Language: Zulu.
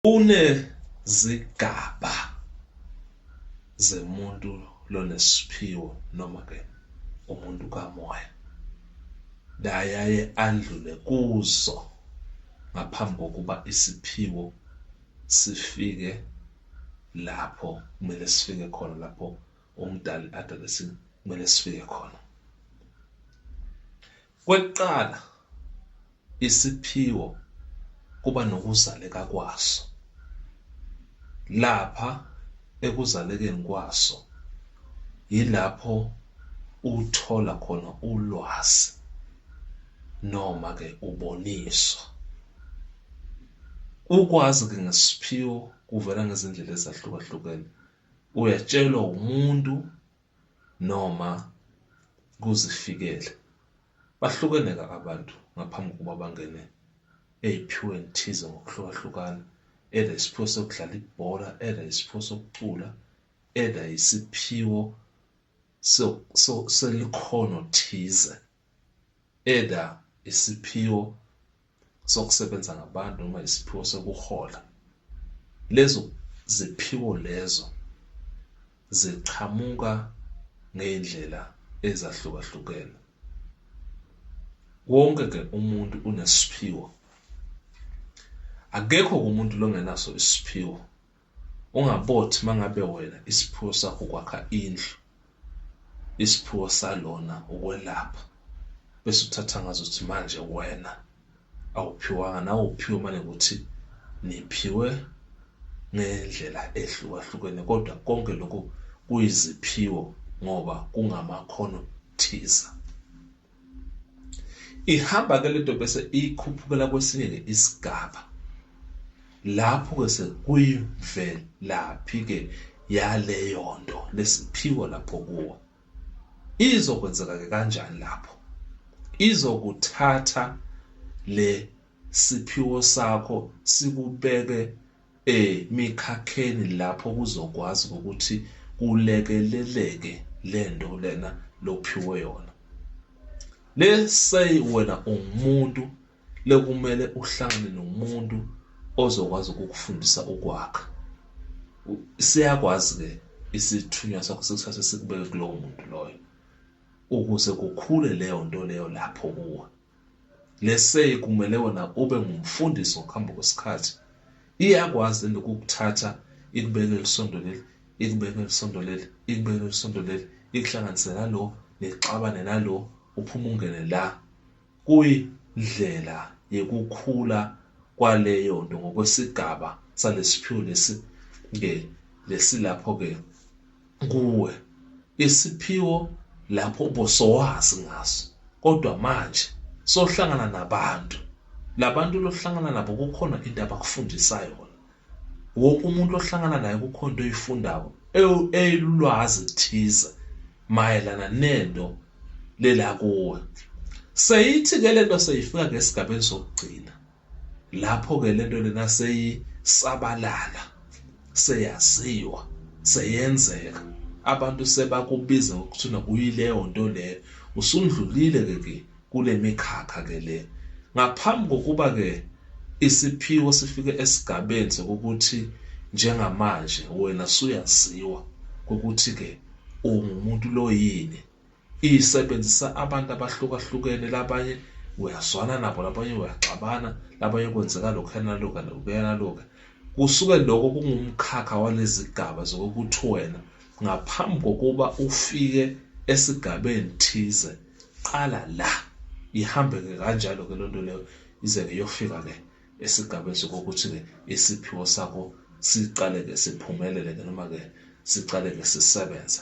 Kunezigaba zemuntu lonesiphiwo noma ke umuntu kamoya layaye andlule kuzo ngaphambi kokuba isiphiwo sifike lapho kumele sifike khona lapho umdali adale kumele sifike khona Kwekuqala, isiphiwo kuba nokuzaleka kwaso. Lapha ekuzalekeni kwaso yilapho uthola khona ulwazi noma ke uboniswa. Ukwazi ke ngesiphiwo kuvela ngezindlela ezahlukahlukene, uyatshelwa umuntu noma kuzifikela. Bahlukene-ke abantu ngaphambi kokuba bangene ey'phiyweni thize ngokuhlukahlukana, either isiphiwo sokudlala ibhola, either isiphiwo sokucula, either isiphiwo selikhono thize. either isiphiwo sokusebenza ngabantu noma isiphiwo sokuhola lezo ziphiwo lezo ziqhamuka ngey'ndlela ezahlukahlukene wonke ke umuntu unesiphiwo akekho kumuntu longenaso isiphiwo Ungabothi mangabe wena isiphiwo sakho ukwakha indlu, isiphiwo salona ukwelapha, bese uthatha ngazo ukuthi manje wena awuphiwanga nawe uphiwe mane ukuthi niphiwe ngendlela ehlukahlukene kodwa konke lokhu kuyiziphiwo ngoba kungamakhono thiza. ihamba ke lento bese ikhuphukela kwesinye ke isigaba lapho ke sekuyivelaphi ke yaleyo nto lesiphiwo lapho kuwo izokwenzeka ke kanjani lapho izokuthatha le siphiwo sakho sikubeke emikhakheni lapho kuzokwazi ukuthi kulekeleleke lento lena lophiwe yona let's say wena ungumuntu lekumele uhlangane nomuntu ozokwazi ukukufundisa ukwakha siyakwazi ke isithunywa sakho sikuthathe sikubeke kulowo muntu loyo ukuze kukhule leyo nto leyo lapho kuwe Lesay kumele wena ube ngumfundisi ngokuhamba kwesikhathi. Iyakwazi lento ukukuthatha ikubeke elisondo leli, ikubeke elisondo leli, ikubeke elisondo leli, ikuhlanganise nalo, nixabane nalo, uphume ungene la. Kuyindlela yekukhula kwaleyo nto ngokwesigaba salesiphiwo lesi ke lesilapho ke kuwe isiphiwo lapho ubosowazi ngaso kodwa manje sohlangana nabantu labantu lohlangana nabo kukhona into abakufundisa yona wonke umuntu ohlangana naye kukhona into oyifundayo elulwazi thize mayelana nento lela kuwe seyithi ke lento seyifika ngesigabeni sokugcina Lapho-ke le nto lena seyisabalala, seyaziwa, seyenzeka. Abantu sebakubiza ngokuthina kuyileyo nto leyo. Usundlulile-ke ke kule mikhakha-ke le. Ngaphambi kokuba-ke isiphiwo sifike esigabeni sokuthi njengamanje wena suyaziwa ukuthi-ke ungumuntu lo yini isebenzisa abantu abahlukahlukene labanye uyazwana nabo labanye uyaxabana labanye kwenzeka lokhu yanaloka lokuyanaloka kusuke lokho kungumkhakha walezigaba zokuthi wena ngaphambi kokuba ufike esigabeni thize qala la ihambeke kanjalo ke lonto leyo ize ke yofika ke esigabeni sokuthi ke isiphiwo sakho siqale ke siphumelele ke noma ke siqale ke sisebenze